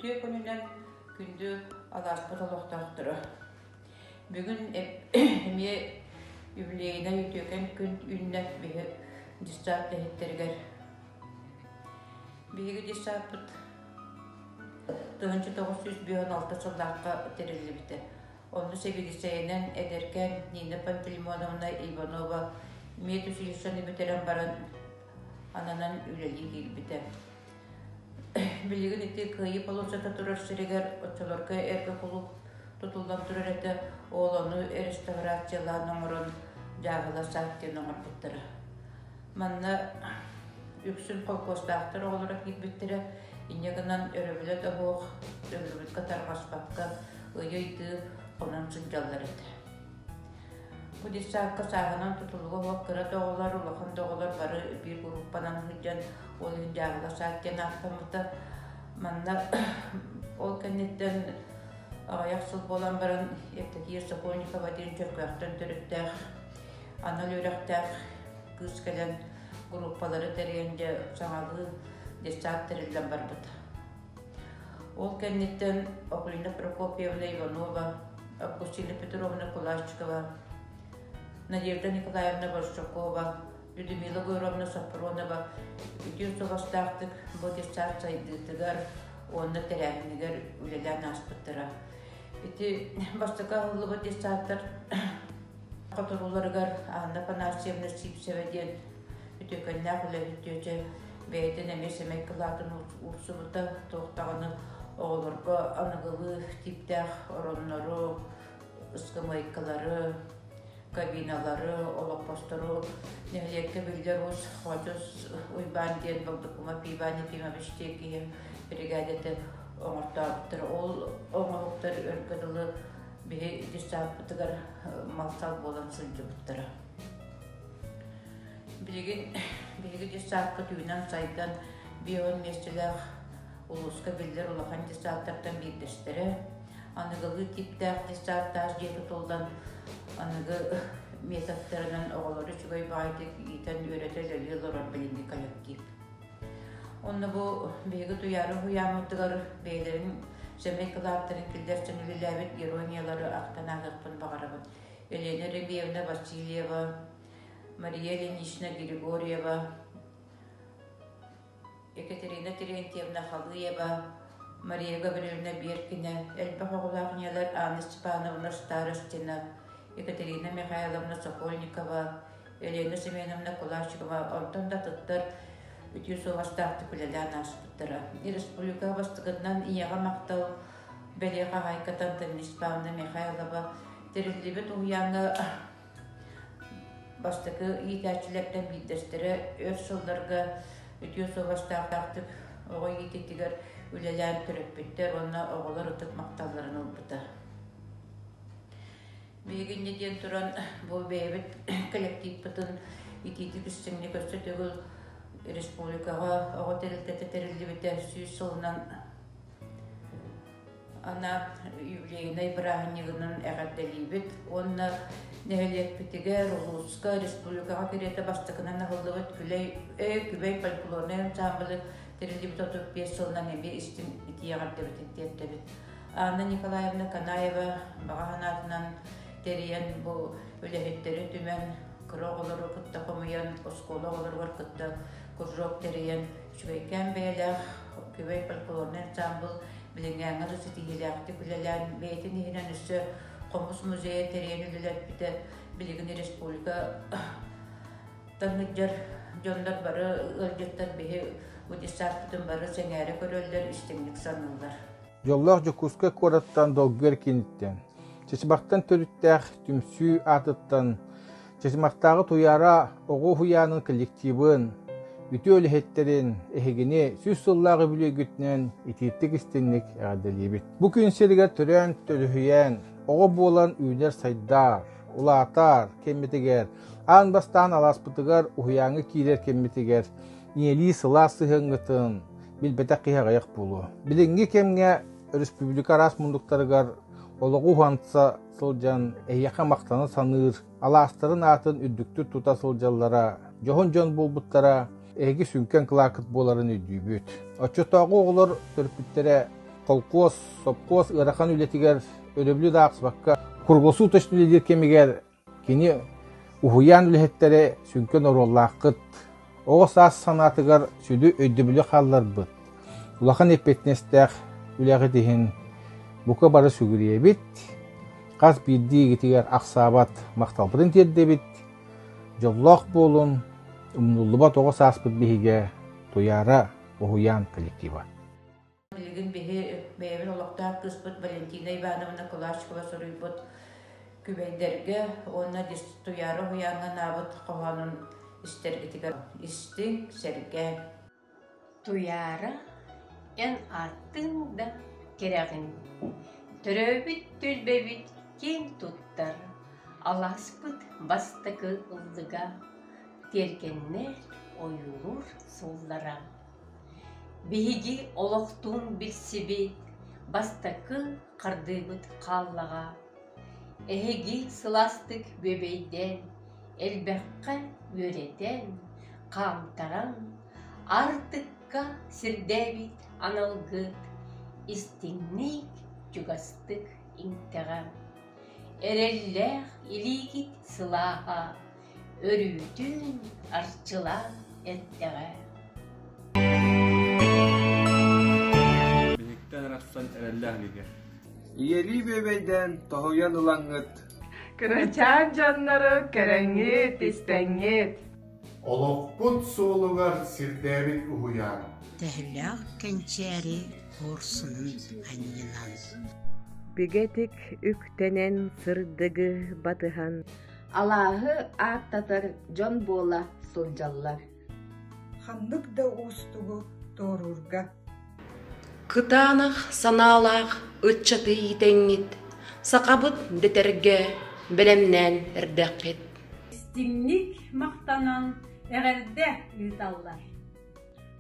Үтүө күнүнэн күндү алааспыт олохтоохторо. Бүгүн эмиэ юбилейнай үтүөкэн күн үүннэ биһи дьыссаат лэһиттэригэр. Биһиги дьыссааппыт 1906 сыллаахха тэриллибитэ. Ону сэбиэдиссэйинэн эдэркээн Нина Пантелеймоновна Иванова медучилищены бүтэрэн баран ананан үлэлии киирбитэ. Билигин ити кыайыы полосата турар сиригэр оччолорго эргэ кулууп тутуллан турар этэ оолону реставрациялаан оҥорон дьааһыла сааттын оҥорбуттара. Манна үксүн холкуостаахтар оҕолоро киирбиттэрэ инньэ гынан өрөбүлэ да оһуох, өллүбүккэ тарҕаспакка ыйый-дыы хонон сылдьаллар этэ. Бу десантка сааһынан тутулуга уһук кыра доҕолор, улахан доҕолор бары биир группанан сылдьан, ол иһин дьаабыла саат диэн ааттаммыта. Манна ол кэнниттэн аҕыйах сыл буолан баран Евдокия Сокольникова диэн Чөркөөхтөн төрүттээх анал үөрэхтээх кыыс кэлэн группалары тэрийэн дьэ саҥалыы десант тэриллэн барбыта. Ол кэнниттэн Аполлина Прокопьевна Иванова, Аккустина Петровна Кулачикова, Надежда Николаевна Борщакова, Людмила Гуировна Сапронова үтүө суобастаахтык бу детсад сайдыытыгар уонна тэрээһинигэр үлэлээн ааспыттара. Ити бастакы аһыллыбыт детсадтар Хотурууларыгар Анна Панасьевна Сивцева диэн үтүөкэннээх үлэһит дьүөдьэ бэйэтин эмиэ сэмэй кылаатын уурсубута, туох даҕаны оҕолорго аныгылыы тииптээх ороннору, ыскамыайкалары, кабиналары, олоппостору нэһилиэккэ биллэр уус Хочос Уйбаан диэн Балдыкума Пиван Ефимович диэн киһи биригээдэтэ оҥортообуттара. Ол оҥоһуктар өргө дылы биһи ити сааппытыгар малтал буолан сылдьыбыттара. Биһиги, биһиги дьыссаапка түүнэн сайдан бион миэстэлээх улууска биллэр улахан дьыссааттартан биирдэстэрэ, аныгылыы тииптээх дьыссааттаах дьиэ тутуллан аныгы методтарынан оҕолору үчүгэй баайдык иитэн үөрэтэ үлэлии олорор билиҥҥи коллектив. Онно бу биһиги туйаары уһуйааммытыгар бэйэлэрин сөмей кылааттарын киллэрсэн үлэлээбит ирониялары ахтан аатыахпын баҕарабын. Елена Рыбиевна Васильева, Мария Ильинична Григорьева, Екатерина Терентьевна Халыева, Мария Гавриловна Беркина, элбэх оҕолоох ийэлэр Анна Степановна Старостина, Екатерина Михайловна Сокольникова, Елена Семеновна Кулачикова онтон да тыттар үтүө суобастаахтык үлэлээн ааспыттара. Республика бастыгынан ийэҕэ махтал бэлиэ хаһаайкатан Тамис Павна Михайлова тэриллибит уһуйааҥҥа бастакы иитээччилэртэн биирдэстэрэ өр сылларга үтүө суобастаахтаахтык оҕо иититигэр үлэлээн төрөппүттэр уонна оҕолор ытык махталларын ылбыта. Биһигинньэ диэн туран бу бэйэбит коллективпытын итиитик үстүҥҥэ көрсө төгүл республикаҕа оҕо тэрилтэтэ тэриллибитэ сүүс сылынан ана юбилейнай бырааһынньыгынан эҕэрдэлиибит уонна нэһилиэкпитигэр, улууска, республикаҕа кэриэтэ бастакынан аһыллыбыт күлэй, э, күбэй фольклорнай ансаамбылы тэриллибит 35 сылынан эмиэ истин итии эҕэрдэбитин тиэрдэбит. Анна Николаевна Канаева баҕа санаатынан тэрийэн бу үлэһиттэри түмэн, кыра оҕолору кытта хомуйан, оскуола оҕолоругар кытта кружок тэрийэн, үчүгэйкээн бэйэлээх күбэй фольклорный ансамбл билиҥҥээҥҥэ да ситиһиилээхтик үлэлээн, бэйэтин иһинэн өссө хомус музейа тэрийэн үлэлэппитэ билигин республика таһыддьар дьоннор бары ыалдьыттар биһи бу десантпытын бары сэҥээрэ көрөллөр, истиҥник саныыллар. Дьоллоох Дьокуускай куораттан долгуйар кииниттэн, Чычымахтан төрүттээх түмсүү аатыттан Чычымахтааҕы Туйаара оҕо уһуйаанын коллективын, үтүө үлэһиттэрин эһигини сүүс сыллаах үбүлүөйгүтүнэн итиитик-истинник эҕэрдэлиибит. Бу күн сиригэр төрөөн, төлүһүйэн, оҕо буолан үүнэр сайдар, улаатар кэммитигэр, аан бастаан алааспытыгар уһуйааҥҥа киирэр кэммитигэр ийэлии сылаас сыһыаҥҥытын билбэтэх киһи аҕыйах буолуо. Билиҥҥи кэмҥэ өрөспүүбүлүкэ араас мундуктарыгар олоҕу уһанса сылдьан эһиэхэ махтана саныыр, алаастарын аатын үрдүктүк тута сылдьаллара, дьоһун дьон буолбуттара эһиги сүҥкэн кылаакыт буоларын өйдүүбүт. Оччотооҕу оҕолор төрөппүттэрэ холкуос, сопхуос ыарахан үлэтигэр, өрөбүлү да аахсыбакка круглосуточно үлэлиир кэмигэр Кини уһуйаан үлэһиттэри сүҥкэн оруоллааххыт, оҕо саас санаатыгар сүдү өйдөбүлү хаалларбыт, улахан эппиэтинэстээх үлэҕит иһин бука бары сүгүрүйэбит, хас биирдии игитигэр ахсаабат махталбытын тиэрдэбит, дьоллоох буолун, умнуллубат оҕо сааспыт биһигэ, Туйаара уһуйаан коллектива. Билигин биһи бэйэбин олохтоох кыыспыт Валентина Ивановна Кулачкова суруйбут Күбэйдэргэ уонна Туяра уһуйааҥҥа анаабыт хоһоонун истэргитигэр истиҥ, сэргээҥ. Туяра эн ааттыҥ да кэрэҕин. Төрөөбүт түөлбэбит киэҥ туттар, алааспыт бастакы ыллыга, тиэргэннэр ойуулуур сууллара. Биһиги олохтуун билсиби бастакы хардыыбыт хааллаҕа, эһиги сылаастык бүөбэйдээн, элбэххэ үөрэтэн, хаамтаран, аартыкка сирдээбит аналгыт, истиҥник, чугастык иҥтэҕэ. Эрэллээх илиигит сылааһа Өрүүтүн арчылаан эттэҕэ Биһиктэн арахсан эрэллээх илигэ Ийэлии бүөбэйдээн тоһуйан ылаҥҥыт Кырачаан дьоннору кэрэҥҥит, истэҥҥит Олохпут суолугар сирдээбит уһуйаан Төһөлөөх кэнчээри куорсунун анньынан Бигэтик үктэнэн сырдыгы батыһан Алааһы ааттатар дьон буола сылдьаллар ханнык да уустугу туоруурга кытаанах санаалаах ыччаты иитэҥҥит сахабыт дэтэргэ бэлэмнээн эрдэххит истиҥник махтанан эҕэрдэ ыыталлар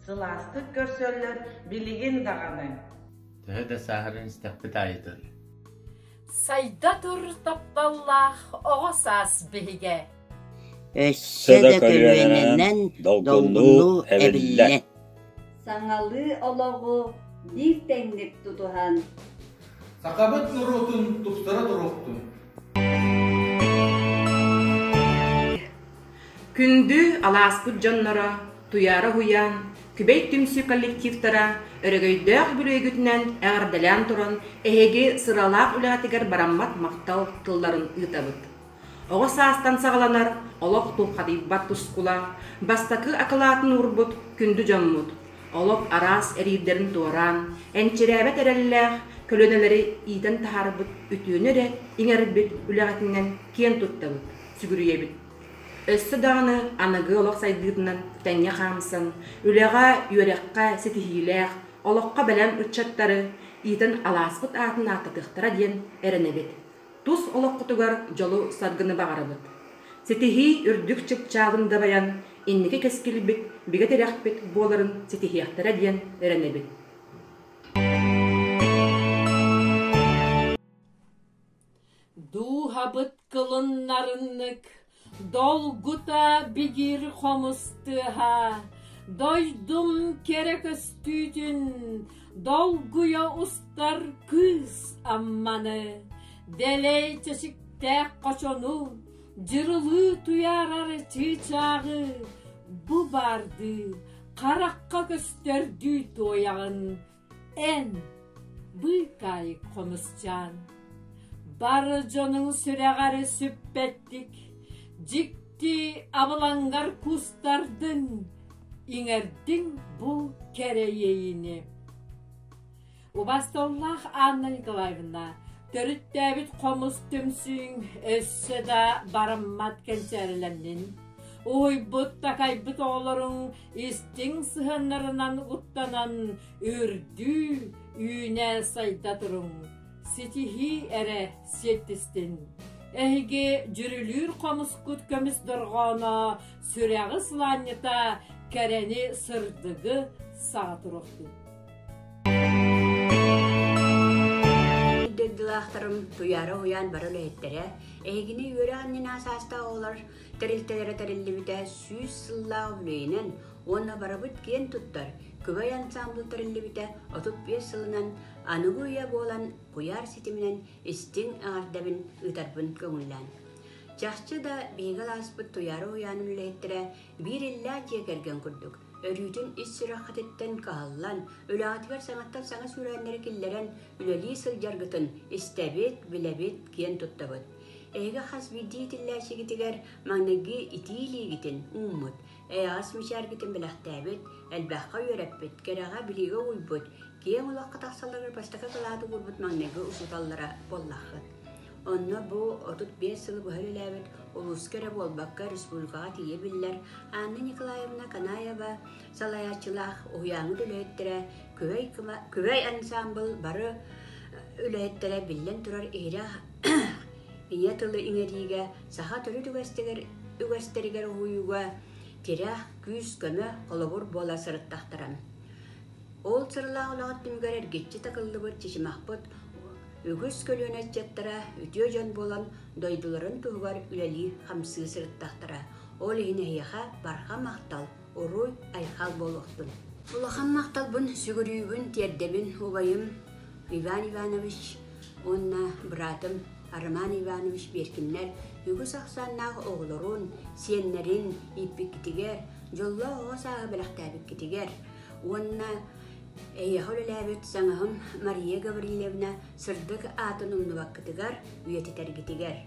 сылаастык көрсөллөр билигин даҕаны төһө да сааһыран истэхпит аайытын Сайда тур тапталлаах оҕо саас биһигэ. Өссө да көлүөнэнэн долгуннуу эбиллэ. Саҥалыы олоҕу биир тэҥник тутуһан. Сахабыт норуотун тустара туруохтун. Күндү алааспыт дьонноро, Туйаара уһуйаан, Күбэй түмсүү коллективтара өрөгөйдөөх бүрүөйгүтүнэн эҕэрдэлээн туран эһиги сыралаах үлэҕитигэр бараммат махтал тылларын ыытабыт. Оҕо саастан саҕаланар олох тулхадыйбат тускулаах, бастакы акылаатын уурбут күндү дьоммут, олох араас эриирдэрин туораан, энчирээбэт эрэллээх көлүөнэлэри иитэн таһаарбыт үтүөнү эрэ иҥэрбит үлэҕитинэн киэн туттабыт. сүгүрүйэбит. Өссө даҕаны аныгы олох сайдыытынан тэҥҥэ хаамсан, үлэҕэ, үөрэххэ ситиһиилээх, олоххо бэлэм ыччаттары иитэн алааспыт аатын ааттатыахтара диэн эрэнэбит. Тус олоххутугар дьолу-саргыны баҕарабыт. Ситиһии үрдүк чыпчаалын дабайан, инники кэскилбит, бигэ тирэхпит буоларын ситиһиэхтэрэ диэн эрэнэбит. Дууһабыт кылыннарыннык долгута бигир хомус тыаһа, дойдум кэрэ көстүүтүн долгуйа устар кыыс Амманы, дэлэй чэчиктээх хочону, дьырылыы туйаарар чыычааҕы, бу баардыы харахха көстөрдүү туойаҕын Эн, быыкаайык хомусчаан, бары дьонуҥ сүрэҕэрэ сүппэттик, дьикти абылаҥгар кустардын, иҥэрдиҥ бу кэрэйэйини. Убастыллаах Анна Николаевна, төрүттээбит хомус түмсүүҥ өссө да бараммат кэнчээрилэннин. Уһуйбут-такайбыт оҕолоруҥ истиҥ сыһаннарынан уттанан үрдүү үүнэ сайда туруҥ ситиһии эрэ сиэттистин эһиги дьүрүлүүр хомускут көмүс дорҕооно сүрэҕи сылаанньыта кэрэни сырдыгы саҕа туруохтун дойдулаахтарым туйаара уһуйаан бары үлэһиттэрэ эһигини үөрэ анньына саастаах оҕолор тэрилтэлэрэ тэриллибитэ сүүс сыллаах үбүлүөйүнэн уонна барыбыт киэн туттар күбэй ансаамбыл тэриллибитэ отут биэс сылынан аныгы үйэ буолан куйаар ситиминэн истиҥ эҕэрдэбин ыытарбын көҥүллээн чахчы да биһиги алааспыт туйаары уйаанын үлэһиттэрэ биир иллээх дьиэ кэргэн курдук өрүүтүн ис сүрэххититтэн кыһаллан үлэҕитигэр саҥаттан саҥа сүүрээннэри киллэрэн үлэлии сылдьаргытын истэбит билэбит киэн туттабыт Эһиги хас биирдии итиллээччигитигэр маҥнайгы итии илиигитин ууммут, эйэҕэс мичээргитин бэлэхтээбит, элбэххэ үөрэппит, кэрэҕэ билиигэ угуйбут, киэҥ олоххо тахсалларын бастакы кылааты уурбут маҥнайгы учууталлара буоллаххыт. Онно бу отут биэс сыл быһа үлэлээбит улууска эрэ буолбакка республикаҕа тиийэ биллэр Анна Николаевна Канаева салайааччылаах уһуйааҥҥыт үлэһиттэрэ күбэй, кыва, күбэй ансаамбыл бары үлэһиттэрэ биллэн турар иһирэх ийэ тылы иҥэриигэ саха төрүт үгэстигэр үгэстэригэр уһуйууга тирэх, күүс-көмө, холобур буола сырыттахтара. Ол сыралаах олоҕор түмүгэр эргиччи такыллыбыт чычымахпыт үгүс көлүөнэ ыччаттара үтүө дьон буолан дойдуларын туһугар үлэлии-хамсыы сырыттахтара. Ол иһин эһиэхэ барҕа махтал Урут Айхал буолуохтун. Улаханнаахтарбын сүгүрүүбүн, тиэрдэбин, убайым Иван Иванович уонна быраатым Роман Иванович Беркиннэр үгүс ахсааннаах оҕолорун, сиэннэрин ииппиккитигэр, дьоллоох оҕо сааһы бэлэхтээбиккитигэр уонна эйиэхэ үлэлээбит саҥаһым Мария Гаврилевна сырдык аатын умнубаккытыгар үйэтитэргитигэр.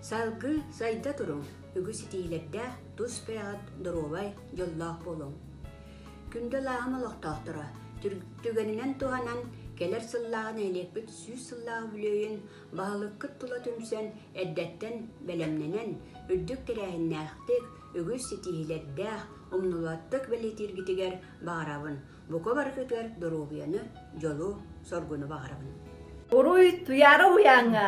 Салгыы сайда туруҥ, үгүс итиилэрдээх, тус бэйэҕит доруобай, дьоллоох буолуҥ. Күндү алааһым олохтоохторо, түгэнинэн туһанан кэлэр сыллааҕы нэһилиэкпит сүүс сыллаах үбүлүөйүн баһылыккыт тула түмсэн эрдэттэн бэлэмнэнэн, үрдүк тэрээһиннээхтик, үгүс ситиһиилэрдээх, умнулуоттук бэлиэтииргитигэр баҕарабын. Бука барытыгар доруобуйаны, дьолу, соргуну баҕарабын. Уруй Туйаара уйааҥҥа!